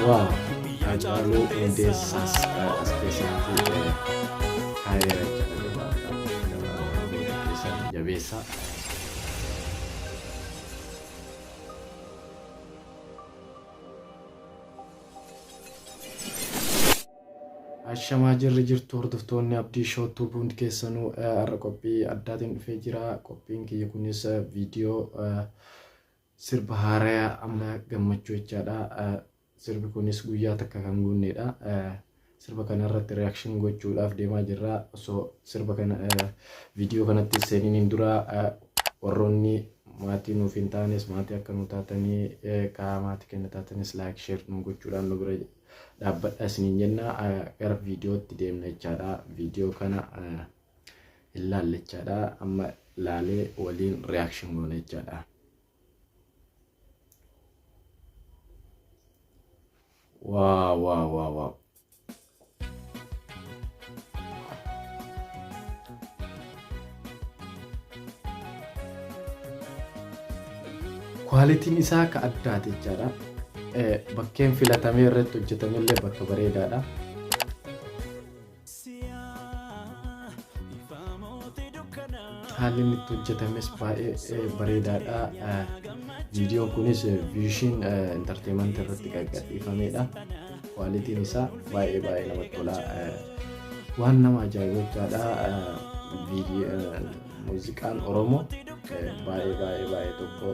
Wow, Hacaaluu Hundeessaas as keessatti haayeera jala gabaabaa gabaabaa booda keessatti jabeessaa. Ashamaa jirri jirtu hordoftoonni abdii shootuu hundi keessanuu har'a qophii addaatiin dhufee jira. Qophiin kiyya kunis viidiyoo sirba haaraya amma gammachuu jechaadha. Sirbi kunis guyyaa takka kan guunneedha. Sirba kana irratti reaction gochuudhaaf deemaa jirra. Osoo sirba kana viidiyoo kanatti seeniin dura warroonni maatii nuuf hin taanes maatii akka nu taatanii karaa maatii kenna taatanis laayik sheer nu gochuudhaan nu bira dhaabbadha isiniin jenna. Gara viidiyootti deemna jechaadha. Viidiyoo kana hin laalle jechaadha. Amma laalee waliin reaction goona jechaadha. Waa waa waa waa. Kwaalitiin isaa akka addaati jechaadha. Bakkeen filatamee irratti hojjetamillee bakka bareedaadha. Haalli inni itti hojjetames baay'ee bareedaadha. Viidiyoon kunis viishiin intarteemantii irratti kan gadhiifamedha. Kwaalitiin isaa baay'ee baay'ee namatti tola. Waan nama ajaa'ibu jechaadha. Muuziqaan Oromoo baay'ee baay'ee baay'ee tokko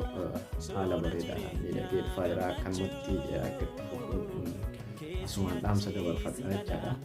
haala bareedaadhaan miidhagee dhufaa jira. Akkanumatti akka itti fufu asumaan dhaamsa dabarfadha jechaadha.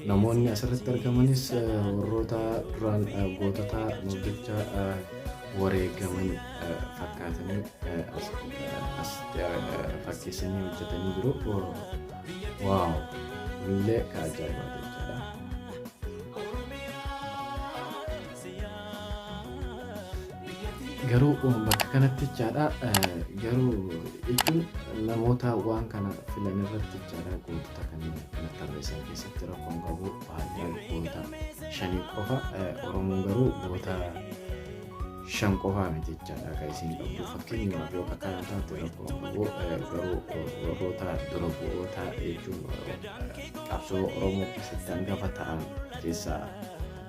Namoonni asirratti argamanis warroota duraan gootota nuuf jecha wareegaman fakkaatanii as fakkeessanii hojjetanii jiru. Waaw! Illee ka ajaa'ibaati jechuudha. Garuu bakka kanatti jechaadha garuu jechuun namoota waan kana filan irratti jechaadha gootota kanneen akkana tarreessan keessatti rakkoon qabu baay'een goota shanii qofa Oromoon garuu goota shan qofaa miti jechaadha kan isin qabdu fakkeenyaaf yoo akka kana taate rakkoon qabu garuu warroota dura bu'oota jechuun qabsoo Oromoo keessatti hangafa ta'an keessaa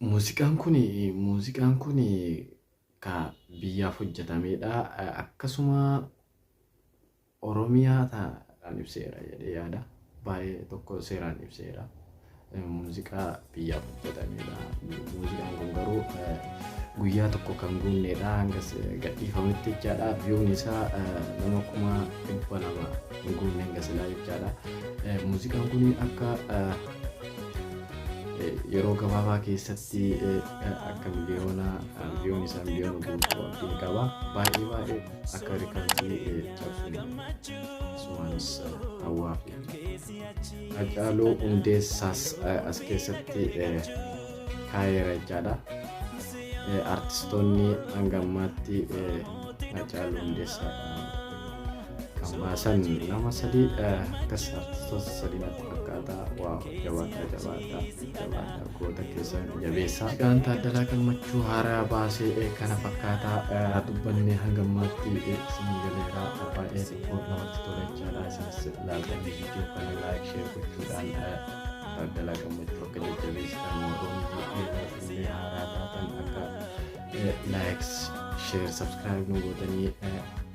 Muuziqaan kun muuziqaan kun ka biyyaaf hojjetameedha. Akkasuma Oromiyaa ta'an ibseera jedhee yaada. Baay'ee tokko seeraan ibseera. Muuziqaa biyyaaf hojjetameedha. Muuziqaan kun garuu guyyaa tokko kan guunneedha. Hanga gadhiifametti jechaadha. Viyuun isaa nama kuma dhibba lama hin guunne hanga silaa jechaadha. Muuziqaan kun akka yeroo gabaabaa keessatti akka miliyoona miliyoon isaa miliyoona guutuu abdiin qaba baay'ee baay'ee akka rikardii cabsuun sumaanis hawwaa fi hacaaluu hundeessaas as keessatti kaayeera jechaadha artistoonni hanga ammaatti hacaaluu hundeessaa Hammaasan nama sadii akkas artistoota sadii natti fakkaata. Waaw jabaadha jabaadha jabaadha goota keessan jabeessaa. Egaan Taaddalaa Gammachuu haaraa baasee kana fakkaataa dubbanne hanga ammaatti isin galeera baay'ee tokko namatti tola jechaadha. Isinis ilaaltanii viidiyoo kana laayik sheer gochuudhaan Taaddalaa Gammachuu akka jajjabeessitan warroonni illee haaraa taatan akka laayik sheer sabskiraayib nu godhanii